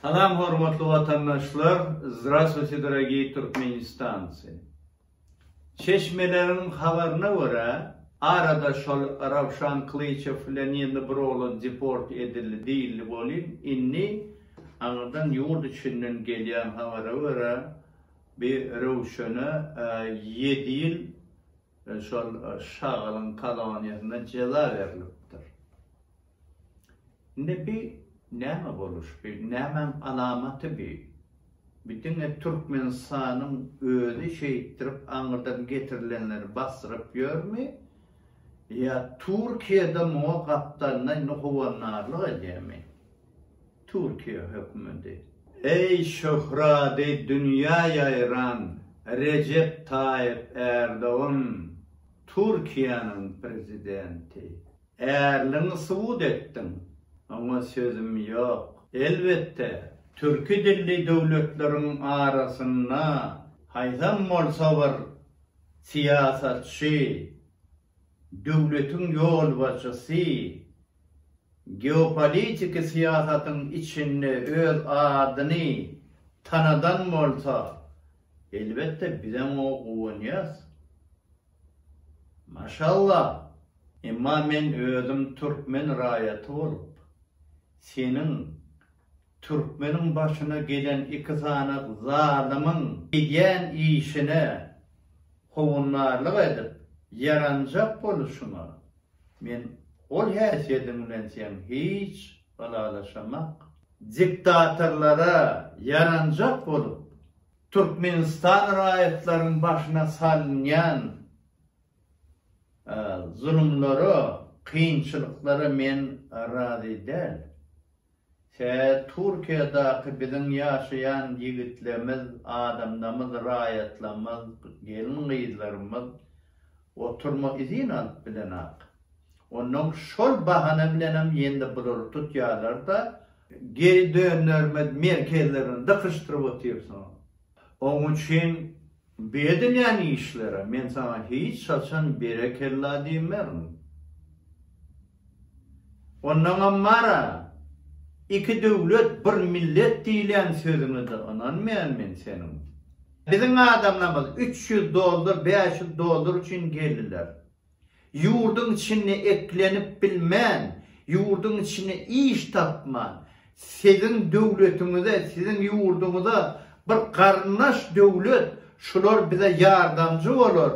Salam hormatly watandaşlar Zdrasvuyte dorogiy Türkmenistancy Çeşmeleriň habaryna görä arada şol Rawşan Klyçew bilen ýene bir oglan deport edildi diýildi bolin inni aňyrdan ýurt içinden gelýän habara görä bir Röwşene ýedi ýyl Şol şagalyň koloniýasyna jeza berlipdir. Indi bi näme boluş, bi nämäň alamaty bi? Bi diňe Türkmenistanyň özi şeýtdirip aňyrdan getirilenleri basdyryp ýörmi? Ýa Türkiýede muňa gapdalynda indi howannarlyk edýärmi? Türkiýe hökümeti. Eý şöhrady dünýä ýaýran Rejep Taýyp Ärdogan Türkiýäniň prezidenti. Ärligiňi subut etdiň, oňa sözüm ýok. Elbetde, türki dilli döwletleriň arasynda haýsam bolsa bir syýasatçy, döwletiň ýolbaşçysy Geopolitiki syýasatyň içinde öz adyny tanadan bolsa, elbetde bizem oňa guwanýas. Maşallah! Emma men özüm türkmen raýaty bolup, seniň türkmeniň başyna gelen iki sany zalymyň edýän işine howundarlyk edip, ýaranjak boluşyňa Men ol häsiýediň bilen seň hiç ylalaşamak. Diktatorlara ýaranjak bolup, Türkmenistan raýatlaryň başyna salynýan zulumlara, kynçylyklara men razy däl. Hä Türkiýadaky biziň ýaşaýan ýigitlemiz, adamlamyz, raýatlamyz, gelin gyzlarymyz oturma izin alyp bilenok. Onnoň şol bahana bilenem ýene-de bulary tutýarlarda, geý dönderme merkezlerini dykyşdyryp otyrsyňyz. Oň üçin Bu edilýän işlere men saňa hiç haçan berekella diýmerin. Ondan Ammara, Iki döwlet, bir millet diýilýän sözüňe-de ynanmaýan men seniň. Biziň adamlarymyz üç ýüz dollar, bäş ýüz dollar üçin geldiler. Ýurduň içinde eklenip bilmän, ýurduň içinde iş tapman, siziň döwletiňize, siziň ýurduňyza bir garyndaş döwlet, şular bize ýardamçy bolar,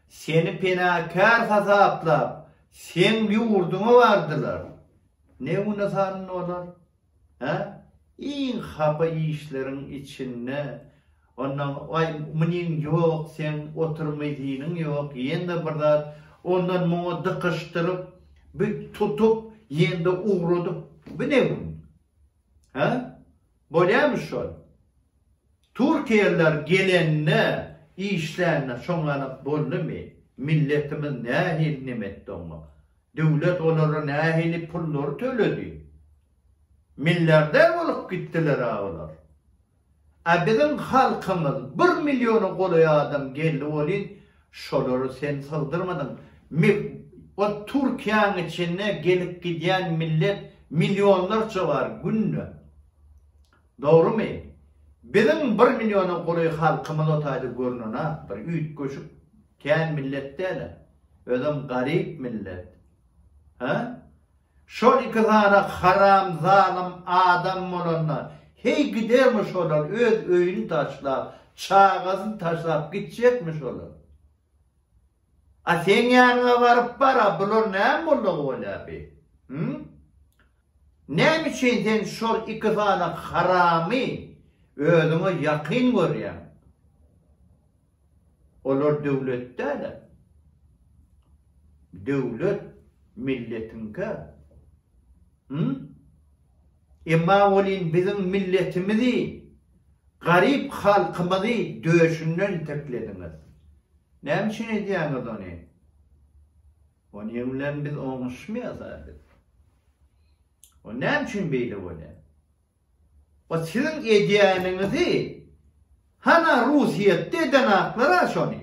seni penakär hasaplap, seň ýurduňa bardylar. Ne güne salyndy olar? Hä? Iň hapa işleriň içinde ondan aý munyň ýok seň oturmyzynyň ýok ýene bir zat ondan muňa dykyşdyryp bi tutup ýende ugradyp bi ne gün? Hä? Bolýamy şol? Türkiýeliler gelende işlände şoňalak boldymy? Milletimiz nähili nemetdi oňa? Döwlet olara nähili pullary töledi? Milliarder bolup gitdiler-ä olar. A biziň halkymyz bir milliona golaý adam geldi welin, şolary sen sygdyrmadyň. Mi o Türkiýäň içinde gelip gidýän millet millionlarça bar günde. Dogrymy? Biziň bir milliona gury halkymyz otaýda görnen-a bir üýtgeşik, kän millet däl-ä. Özem garyp millet. Hä? Şol iki sany haram, zalym adam bolanda, heý gidermi şolar öz öýüni taşlap, çagasyny taşlap gitjekmi şolar? A seň ýanyňa baryp bar-a, bular näme boldugy bolýar bi? Hü? Näme üçin sen şol iki sany haramy özüňe ýakyn görýäň? Olar döwlet däl-ä. Döwlet milletiňkä. Hü? Emma welin biziň milletimizi, garyp halkymyzy döşünden iteklediňiz. Näme üçin edýäňiz ony? Onuň bilen biz oňuşmaýas-a biz. O näme üçin beýle bolýar? O siziň edýäniňizi hana Russiýetde edenaklar-a şony.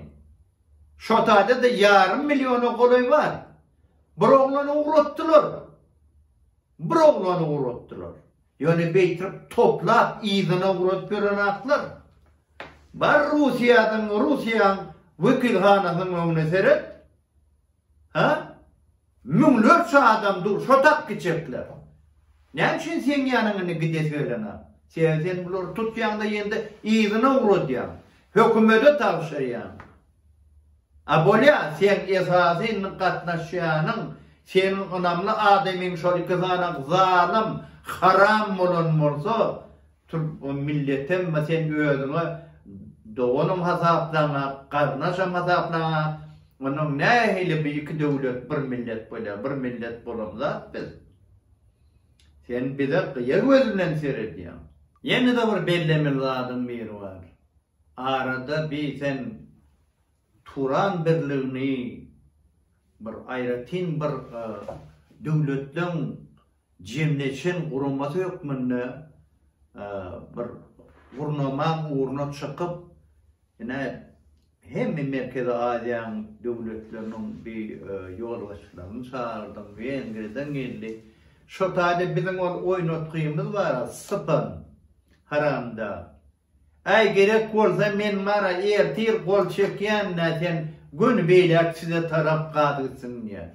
Şo taýda-da ýarym milliona golaý bar. Bir oglany ugratdylar. Bir oglany ugratdylar. Ýöne beýtip toplap yzyna urat beren atlar. Bar Russiýadan Russiýaň wekilhanasynyň öňüne seret. Ha? Müňlerçe adam dur şo tak giçekler. Näme üçin seň ýanyňa indi gidesi gelene? Sebäbi sen bulary tutýaňda ýende yzyna uradýaň. Hökümede tabşyrýaň. A bolýa seň esasy ny gatnaşýanyň seň ynamly adamyň şol iki sany zalym haram bolan bolsa türk o milletem mi sen özüňe doganym hasaplaňa garnaşam hasaplaňa onuň nähili bi iki döwlet bir millet bolýa bir millet bolan zat biz sen bize gyýa göz bilen seredýaň. Ýene-de bir bellemeli zadyň biri bar. Arada biýsen Turan birligini bir aýratyn bir döwletleň jemleýşen guramasy hökmünde bir gurnamaň ugruna çykyp, ine, hemme Merkezi Aziýanyň döwletleriniň bi ýolbaşçylaryny çagyrdyň, Wengriýadan geldi. Şo taýda biziň ol oýnatgymyz bar, sypan, haramdag. Äý gerek bolsa men mara ertir gol çekýänä sen göni beýläk size tarap gaz gitsin diýýä.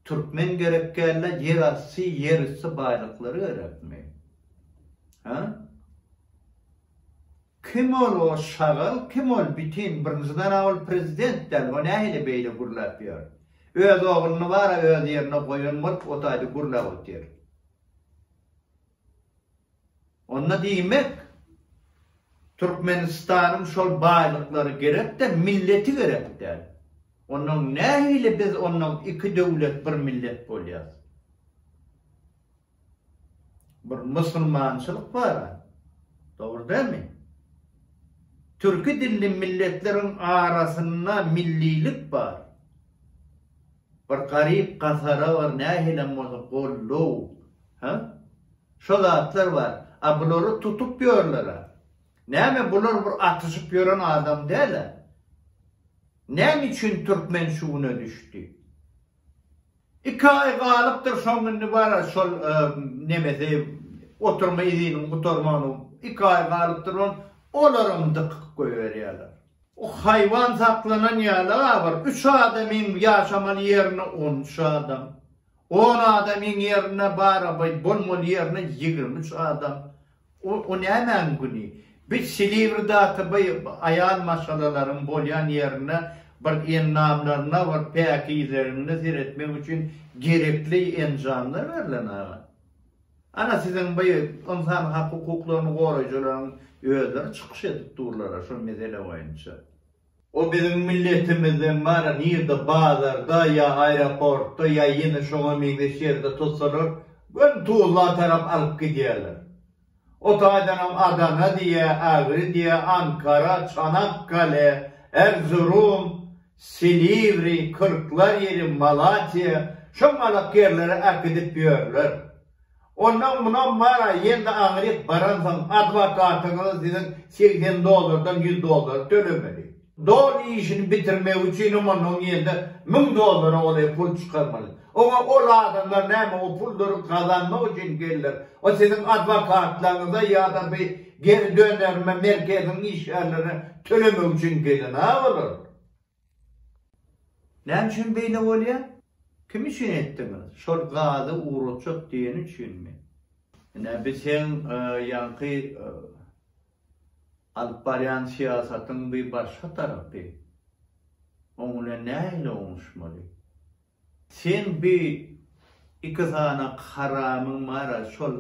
Türkmen gerek dälä ýer asty ýer üsti baýlyklary gerekmi? Hä? Kim ol o şagal kim ol bitin birinjiden a ol prezident däl o nähili beýle gürläp ýör. Öz ogluny bara öz ýerine goýan bolup otaýda gürläp otyr. Onda diýmek, Türkmenistanyň şol baýlyklary gerek-de, milleti gerek däl. Onnoň nähili biz onnoň iki döwlet bir millet bolýas? Bir musulmançylyk bar-a, dogry dälmi? Türki dilli milletleriň arasynda millilik bar. Bir garyp gasara bar nähilem bolsa gollow ha şo zatlar bar a bulary tutup ýörlera näme bular bir atyşyp ýören adam däla näme üçin türkmen şu güne düşdi iki aý galypdyr şoň indi bar a şol nemesi oturma iziniň gutarmagyna iki aý galypdyr on olaram dykyp goýberýärler. O haýwan saklanan ýaly abyr, üç adamyň ýaşamaly ýerine on üç adam, on adamyň ýerine barabaý bolmaly ýerine ýigrimi üç adam. O nämäň güni? Biz Silivridaky bu aýal maşgalalaryň bolýan ýerine bir ennamlaryna, bir päkizeliligine seretmek üçin gerekli enjamlar berlen aga. Ana siziň bu ynsan hak hukuklaryny goraýjylaryň özleri çykyş edip durlara şo mesele boýunça. O biziň milletimizden bara nirde bazarda ýa aeroportda ýa ýene şoňa meňzeş ýerde tutsalar göni Tuzla tarap alyp gidýärler. O taýdanam Adana diýýä, Agri diýýä, Ankara, Çanakkale, Erzurum, Silivri kyrklar ýeri Malatiýa şo malak ýerlere äkidip ýörler. Onam munam bar-a ýene-de aňryk baransoň adwokatňyza siziň segsen dollardan ýüz dollary tölemeli. Doly işini bitirmegi üçinem ondan ýene-de müň dollara golaý pul çykarmaly. Oňa ol adamlar näme o pullary gazanmak üçin geldiler. O siziň adwokatlaryňyza ýa-da bi Geri dönerime merkeziň işgärleri tölemek üçin gelen-a olar. Näme üçin beýle bolýar? Kim üçin etdiňiz? Şol gazy ugratjak diýeni üçinmi? Ine, biz seň ýaňky alyp barýan syýasatyň bir başga tarapy. Oň bilen nähili oňuşmaly? Seň bi iki sany haramyň bara şol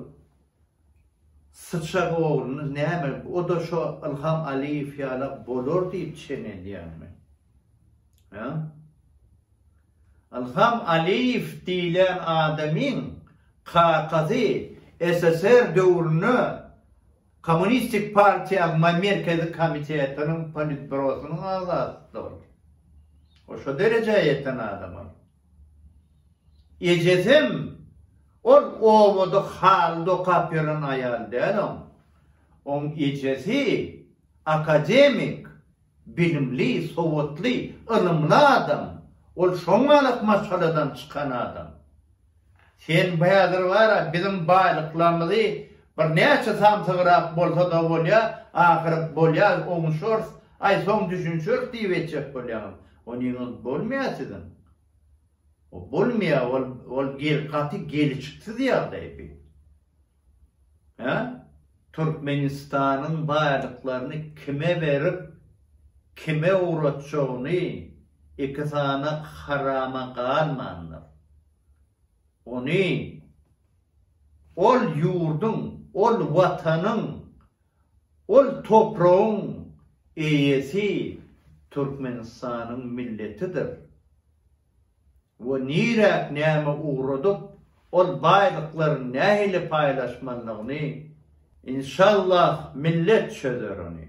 syçak ogluny näme oda şo Ylham Aliýew ýala bolar diýip çen edýäňmi? Hä? Ylham Aliýew diýlen adamyň kakasy SSR döwründe Kommunistik partiýa MAY Merkezi komitetiniň Politbürosynyň agzasy-da ol. Ol şo derejä ýeten adam ol. Ejesem ol obada haly dokap ýören aýal däl oň. Oň ejesi akademik. Bilimli, sowatly, ylymly adam. Ol şoňalak maşgaladan çykan adam. Sen häzir bar-a, biziň baýlyklarymyzy birnäçe samsygrak bolsa-da bolýa, ahyry bolýa, oňuşarys, aý, soň düşünişeris diýip etjek bolýaňyz. Onyňyz bolmaýa siziň. O bolmaýa, ol, ol gaty gelişiksiz ýagdaý bu. Hä? Türkmenistanyň baýlyklaryny kime berip, kime ugratjagyny iki sany harama galmandyr. Ony ol ýurduň, ol Watanyň, ol topragyň eýesi Türkmenistanyň milletidir. we niräk näme ugradyp, ol baýlyklaryny nähili paýlaşmalydygyny, inşallah, millet çözer ony.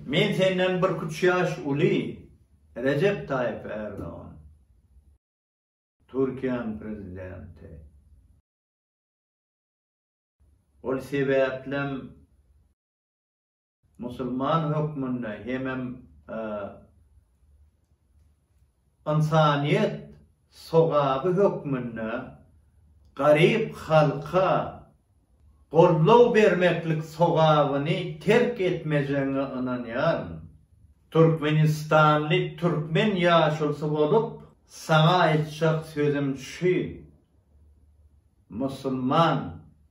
Men senden birküç ýaş uly, Rejep Taýyp Ärdogan. Türkiýäniň prezidenti. Ol sebäplem. Musulman hökmünde hemem ynsanyýet sogaby hökmünde garyp halka goldaw bermeklik sogabyny terk etmejegiňe ynanýaryn. Türkmenistanly türkmen ýaşulysy bolup, saňa aýtjak sözüm şu, musulman